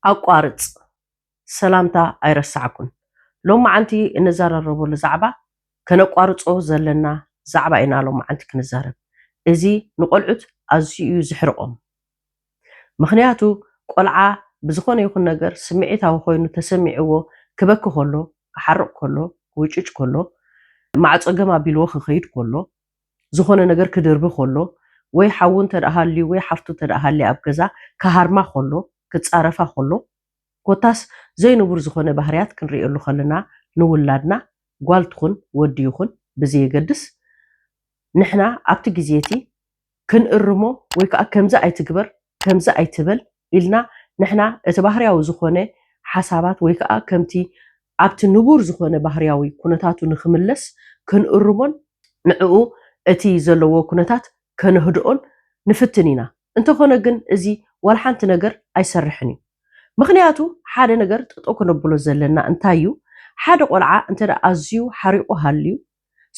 ኣቋርፅ ሰላምታ ኣይረሳዕኩን ሎማዓንቲ እንዛራረበሉ ዛዕባ ከነቋርፆ ዘለና ዛዕባ ኢና ሎማዓንቲ ክንዛረብ እዚ ንቆልዑት ኣዝዩ እዩ ዝሕርቆም ምኽንያቱ ቆልዓ ብዝኾነ ይኹን ነገር ስምዒታዊ ኮይኑ ተሰሚዕዎ ክበኪ ከሎ፣ ክሓርቕ ከሎ፣ ክውጭጭ ከሎ፣ ማዕጾ ገም ኣቢልዎ ክኸይድ ከሎ፣ ዝኾነ ነገር ክድርቢ ከሎ፣ ወይ ሓዉ እንተድኣ ሃልዩ ወይ ሓፍቱ እንተድኣ ሃልያ ኣብ ገዛ ክሃርማ ከሎ፣ ክጻረፋ ከሎ፣ ኮታስ ዘይንቡር ዝኾነ ባህርያት ክንርእየሉ ከለና ንውላድና ጓል ትኹን ወዲ ይኹን ብዘየገድስ ንሕና ኣብቲ ግዜ'ቲ ክንእርሞ ወይ ከኣ ከምዚ ኣይትግበር ከምዚ ኣይትበል ኢልና ንሕና እቲ ባህርያዊ ዝኾነ ሓሳባት ወይ ከኣ ከምቲ ኣብቲ ንቡር ዝኾነ ባህርያዊ ኩነታቱ ንክምለስ ክንእርሞን ንዕኡ እቲ ዘለዎ ኩነታት ከነህድኦን ንፍትን ኢና እንተኾነ ግን እዚ ዋላ ሓንቲ ነገር ኣይሰርሕን እዩ ምኽንያቱ ሓደ ነገር ጠጠው ከነብሎ ዘለና እንታይ እዩ ሓደ ቆልዓ እንተ ኣዝዩ ሓሪቑ ሃልዩ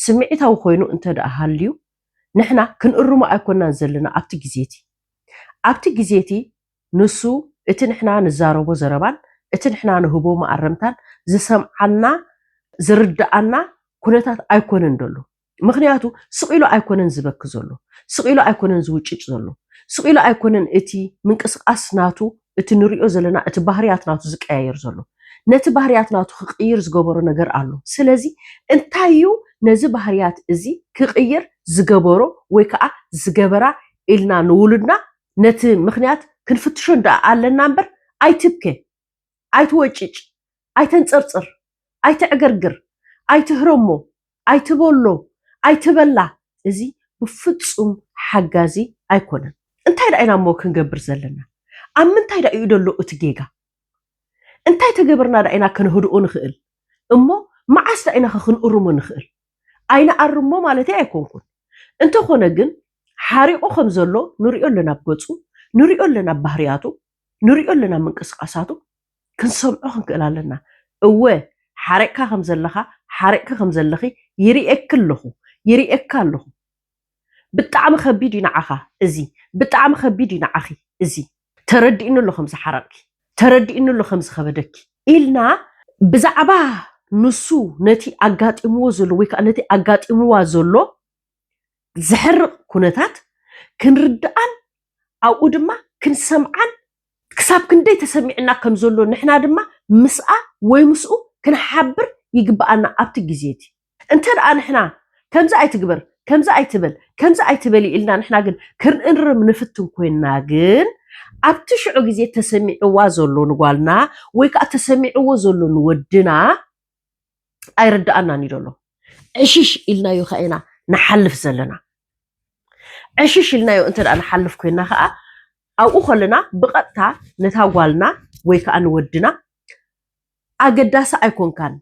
ስምዒታዊ ኮይኑ እንተ ሃልዩ ንሕና ክንእርሞ ኣይኮናን ዘለና ኣብቲ ግዜ እቲ ኣብቲ ግዜ እቲ ንሱ እቲ ንሕና ንዛረቦ ዘረባን እቲ ንሕና ንህቦ መኣረምታን ዝሰምዓና ዝርደኣና ኩነታት ኣይኮነን ደሎ ምኽንያቱ ስቅ ኢሉ ኣይኮነን ዝበኪ ዘሎ ስቅ ኢሉ ኣይኮነን ዝውጭጭ ዘሎ ስቅ ኢሉ ኣይኮነን እቲ ምንቅስቃስ ናቱ እቲ ንሪኦ ዘለና እቲ ባህርያት ናቱ ዝቀያየር ዘሎ ነቲ ባህርያት ናቱ ክቅይር ዝገበሮ ነገር ኣሎ ስለዚ እንታይ እዩ ነዚ ባህርያት እዚ ክቅይር ዝገበሮ ወይ ከኣ ዝገበራ ኢልና ንውሉድና ነቲ ምክንያት ክንፍትሾ ደኣ ኣለና እምበር ኣይትብከ ኣይትወጭጭ ኣይተንጸርጽር ኣይተዕገርግር፣ ኣይትህረሞ፣ ኣይትበሎ፣ ኣይትበላ፣ እዚ ብፍጹም ሓጋዚ ኣይኮነን። እንታይ ድኣ ኢና እሞ ክንገብር ዘለና? ኣብ ምንታይ ድኣ ኢዩ ዘሎ እቲ ጌጋ? እንታይ ተገበርና ድኣ ኢና ከነህድኦ ንኽእል? እሞ መዓስ ድኣ ኢናኸ ክንእርሞ ንኽእል? ኣይንኣርሞ ማለተይ ኣይኮንኩን። እንተኾነ ግን ሓሪቑ ከም ዘሎ ንርእዮ ኣለና ብ ገጹ፣ ንርእዮ ኣለና ብ ባህርያቱ፣ ንሪኦ ኣለና ምንቅስቃሳቱ ክንሰምዖ ክንክእል ኣለና እወ ሓሪቅካ ከም ዘለኻ ሓሪቅኪ ከም ዘለኺ ይሪኤኪ ኣለኹ ይሪኤካ ኣለኹ ብጣዕሚ ከቢድ እዩ ንዓኻ እዚ ብጣዕሚ ከቢድ እዩ ንዓኺ እዚ ተረዲእኒ ኣሎ ከም ዝሓረቅኪ ተረዲእኒ ኣሎ ከም ዝኸበደኪ ኢልና ብዛዕባ ንሱ ነቲ ኣጋጢምዎ ዘሎ ወይ ከዓ ነቲ ኣጋጢምዋ ዘሎ ዘሕርቕ ኩነታት ክንርድኣን ኣብኡ ድማ ክንሰምዓን ክሳብ ክንደይ ተሰሚዑና ከም ዘሎ ንሕና ድማ ምስኣ ወይ ምስኡ ክንሓብር ይግብኣና ኣብቲ ግዜ እቲ። እንተ ደኣ ንሕና ከምዚ ኣይትግበር፣ ከምዚ ኣይትበል፣ ከምዚ ኣይትበሊ ኢልና ንሕና ግን ክንእርም ንፍትን ኮይንና ግን ኣብቲ ሽዑ ግዜ ተሰሚዑዋ ዘሎ ንጓልና ወይ ከኣ ተሰሚዑዎ ዘሎ ንወድና ኣይርድኣናን እዩ ዘሎ ዕሽሽ ኢልናዮ ከ ኢና ንሓልፍ ዘለና ዕሽሽ ኢልናዮ እንተ ንሓልፍ ኮይና ከዓ ኣብኡ ከለና ብቐጥታ ነታ ጓልና ወይ ከዓ ንወድና ኣገዳሲ ኣይኮንካን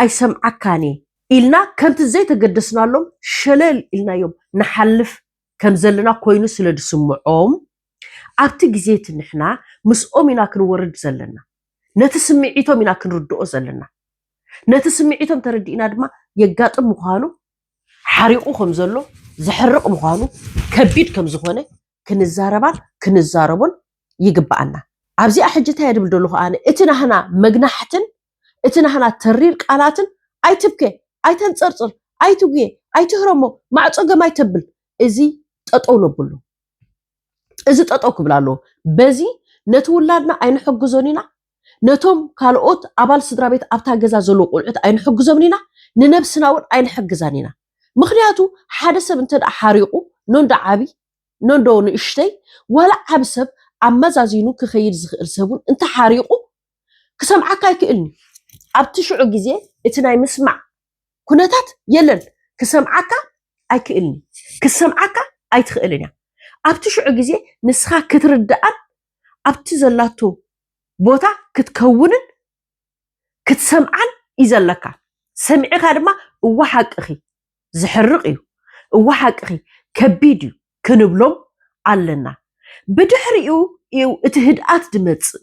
ኣይሰምዓካን ኢልና ከምቲ ዘይተገደስናሎም ሸለል ኢልናዮም ንሓልፍ ከም ዘለና ኮይኑ ስለ ዝስምዖም፣ ኣብቲ ግዜ እቲ ንሕና ምስኦም ኢና ክንወርድ ዘለና። ነቲ ስምዒቶም ኢና ክንርድኦ ዘለና። ነቲ ስምዒቶም ተረዲእና ድማ የጋጥም ምዃኑ፣ ሓሪቑ ከም ዘሎ፣ ዘሕርቕ ምዃኑ፣ ከቢድ ከም ዝኾነ ክንዛረባን ክንዛረቦን ይግብኣና። ኣብዚኣ ሕጂ እንታይ እየ ዝብል ዘለኹ ኣነ፣ እቲ ናህና መግናሕትን እቲ ናህና ተሪር ቃላትን ኣይትብከ፣ ኣይተንጸርጽር፣ ኣይትጉየ፣ ኣይትህረሞ፣ ማዕጾ ገም ኣይተብል እዚ ጠጠው ነብሎ። እዚ ጠጠው ክብል ኣለዎ። በዚ ነቲ ውላድና ኣይንሕግዞን ኢና፣ ነቶም ካልኦት ኣባል ስድራቤት ኣብታ ገዛ ዘለዉ ቆልዑት ኣይንሕግዞምን ኢና፣ ንነብስና እውን ኣይንሕግዛን ኢና። ምኽንያቱ ሓደ ሰብ እንተ ሓሪቑ ኖንዶ ዓቢ ኖንዶ ንእሽተይ ዋላ ዓቢ ሰብ ኣመዛዚኑ ክኸይድ ዝኽእል ሰብ እውን እንተ ሓሪቑ ክሰምዓካ ኣይክእልን እዩ ኣብቲ ሽዑ ግዜ እቲ ናይ ምስማዕ ኩነታት የለን ክሰምዓካ ኣይክእልን እዩ ክትሰምዓካ ኣይትኽእልን እያ ኣብቲ ሽዑ ግዜ ንስኻ ክትርድኣን ኣብቲ ዘላቶ ቦታ ክትከውንን ክትሰምዓን እዩ ዘለካ ሰሚዕኻ ድማ እወ ሓቅኺ ዝሕርቕ እዩ እወ ሓቅኺ ከቢድ እዩ ክንብሎም ኣለና ብድሕሪኡ እዩ እቲ ህድኣት ዝመጽእ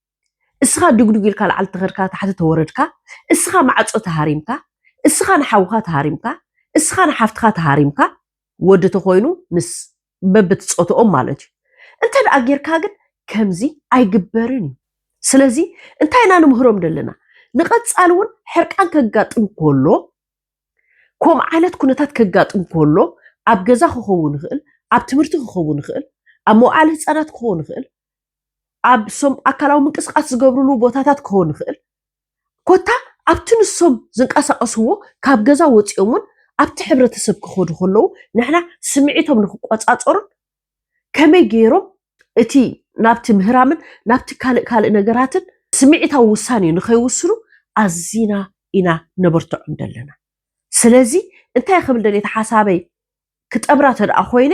እስኻ ድጉድጉ ኢልካ ላዕሊ ተኸድካ ታሕቲ ተወረድካ እስኻ ማዕጾ ተሃሪምካ እስኻ ንሓውኻ ተሃሪምካ እስኻ ንሓፍትኻ ተሃሪምካ ወዲ ተኾይኑ ምስ በብቲ ጾትኦም ማለት እዩ እንተ ደኣ ጌርካ ግን ከምዚ ኣይግበርን እዩ ስለዚ እንታይ ኢና ንምህሮም ዘለና ንቐጻሊ እውን ሕርቃን ከጋጥም ከሎ ከምኡ ዓይነት ኩነታት ከጋጥም ከሎ ኣብ ገዛ ክኸውን ይኽእል ኣብ ትምህርቲ ክኸውን ይኽእል ኣብ መውዓሊ ህፃናት ክኸውን ይኽእል ኣብ ሶም ኣካላዊ ምንቅስቓስ ዝገብርሉ ቦታታት ክኸውን ይኽእል ኮታ ኣብቲ ንሶም ዝንቀሳቐስዎ ካብ ገዛ ወፂኦም እውን ኣብቲ ሕብረተሰብ ክኸዱ ከለዉ ንሕና ስምዒቶም ንክቆፃፀሩን ከመይ ገይሮም እቲ ናብቲ ምህራምን ናብቲ ካልእ ካልእ ነገራትን ስምዒታዊ ውሳኔ ንኸይውስኑ ኣዚና ኢና ነበርትዖም ዘለና። ስለዚ እንታይ ክብል ደልየ እታ ሓሳበይ ክጠብራ ተደኣ ኮይነ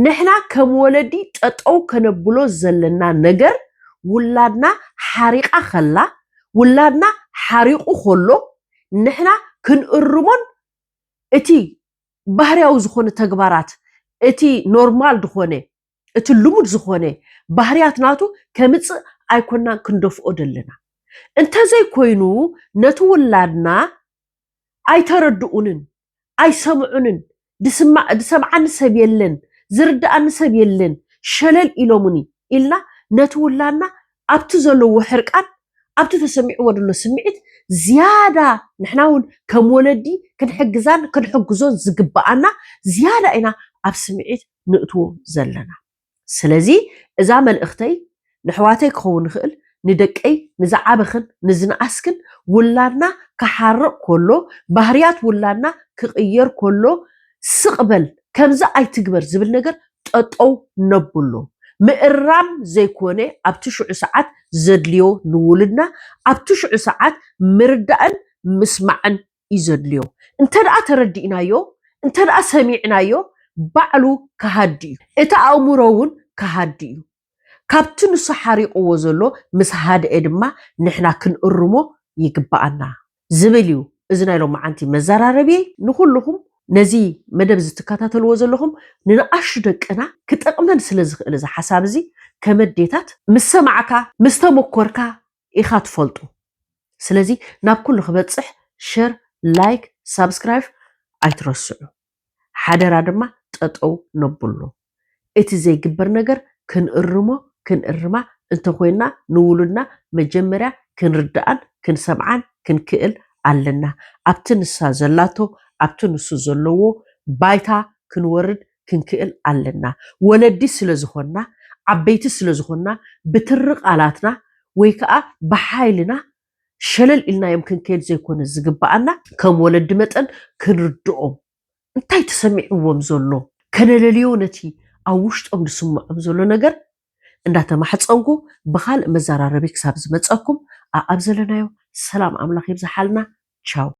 ንሕና ከም ወለዲ ጠጠው ከነብሎ ዘለና ነገር ውላድና ሓሪቓ ከላ ውላድና ሓሪቑ ከሎ ንሕና ክንእርሞን እቲ ባህርያዊ ዝኾነ ተግባራት እቲ ኖርማል ድኾነ እቲ ልሙድ ዝኾነ ባህርያት ናቱ ከምጽእ ኣይኮናን ክንደፍኦ ደለና እንተዘይኮይኑ ነቲ ውላድና ኣይተረድኡንን ኣይሰምዑንን ድስማዕ ድሰምዓኒ ሰብ የለን ዝርድኣኒ ሰብ የለን ሸለል ኢሎሙኒ ኢልና ነቲ ውላድና ኣብቲ ዘለዎ ሕርቃን ኣብቲ ተሰሚዕዎ ደሎ ስምዒት ዝያዳ ንሕና ውን ከም ወለዲ ክንሕግዛን ክንሕግዞን ዝግብኣና ዝያዳ ኢና ኣብ ስምዒት ንእትዎ ዘለና። ስለዚ እዛ መልእኽተይ ነሕዋተይ ክኸውን ይኽእል ንደቀይ ንዝዓበኽን ንዝነኣስክን ውላድና ክሓርቕ ኮሎ ባህርያት ውላድና ክቕየር ኮሎ ስቕ በል ከምዚ ኣይትግበር ዝብል ነገር ጠጠው ነብሎ ምእራም ዘይኮነ ኣብቲ ሽዑ ሰዓት ዘድልዮ ንውሉድና ኣብቲ ሽዑ ሰዓት ምርዳእን ምስማዕን እዩ ዘድልዮ እንተ ተረዲእናዮ እንተ ሰሚዕናዮ ባዕሉ ከሃዲ እዩ እቲ ኣእምሮ ውን ከሃዲ እዩ ካብቲ ንሱ ሓሪቕዎ ዘሎ ምስ ሃድኤ ድማ ንሕና ክንእርሞ ይግበኣና ዝብል እዩ እዚ ናይ ሎማዓንቲ መዘራረቢየይ ንኹሉኹም ነዚ መደብ እዚ ትከታተልዎ ዘለኹም ንንኣሽቱ ደቅና ክጠቕመን ስለ ዝኽእል እዚ ሓሳብ እዚ ከመ ኣዴታት ምስ ሰማዕካ ምስ ተመኮርካ ኢካ ትፈልጡ ስለዚ ናብ ኩሉ ክበፅሕ ሸር ላይክ ሳብስክራይብ ኣይትረስዑ ሓደራ ድማ ጠጠው ነብሎ እቲ ዘይግበር ነገር ክንእርሞ ክንእርማ እንተኮይንና ንውሉድና መጀመርያ ክንርድኣን ክንሰምዓን ክንክእል ኣለና ኣብቲ ንሳ ዘላቶ ኣብቲ ንሱ ዘለዎ ባይታ ክንወርድ ክንክእል ኣለና። ወለዲ ስለ ዝኾንና፣ ዓበይቲ ስለ ዝኾንና ብትሪ ቃላትና ወይ ከኣ ብሓይልና ሸለል ኢልናዮም ክንከይድ ዘይኮነ ዝግበኣና፣ ከም ወለዲ መጠን ክንርድኦም፣ እንታይ ተሰሚዕዎም ዘሎ ከነለልዮ ነቲ ኣብ ውሽጦም ዝስምዖም ዘሎ ነገር እንዳተማሕጸንኩ ብኻልእ መዘራረቢ ክሳብ ዝመጸኩም ኣኣብ ዘለናዮ ሰላም ኣምላኽ ይብዝሓልና ቻው።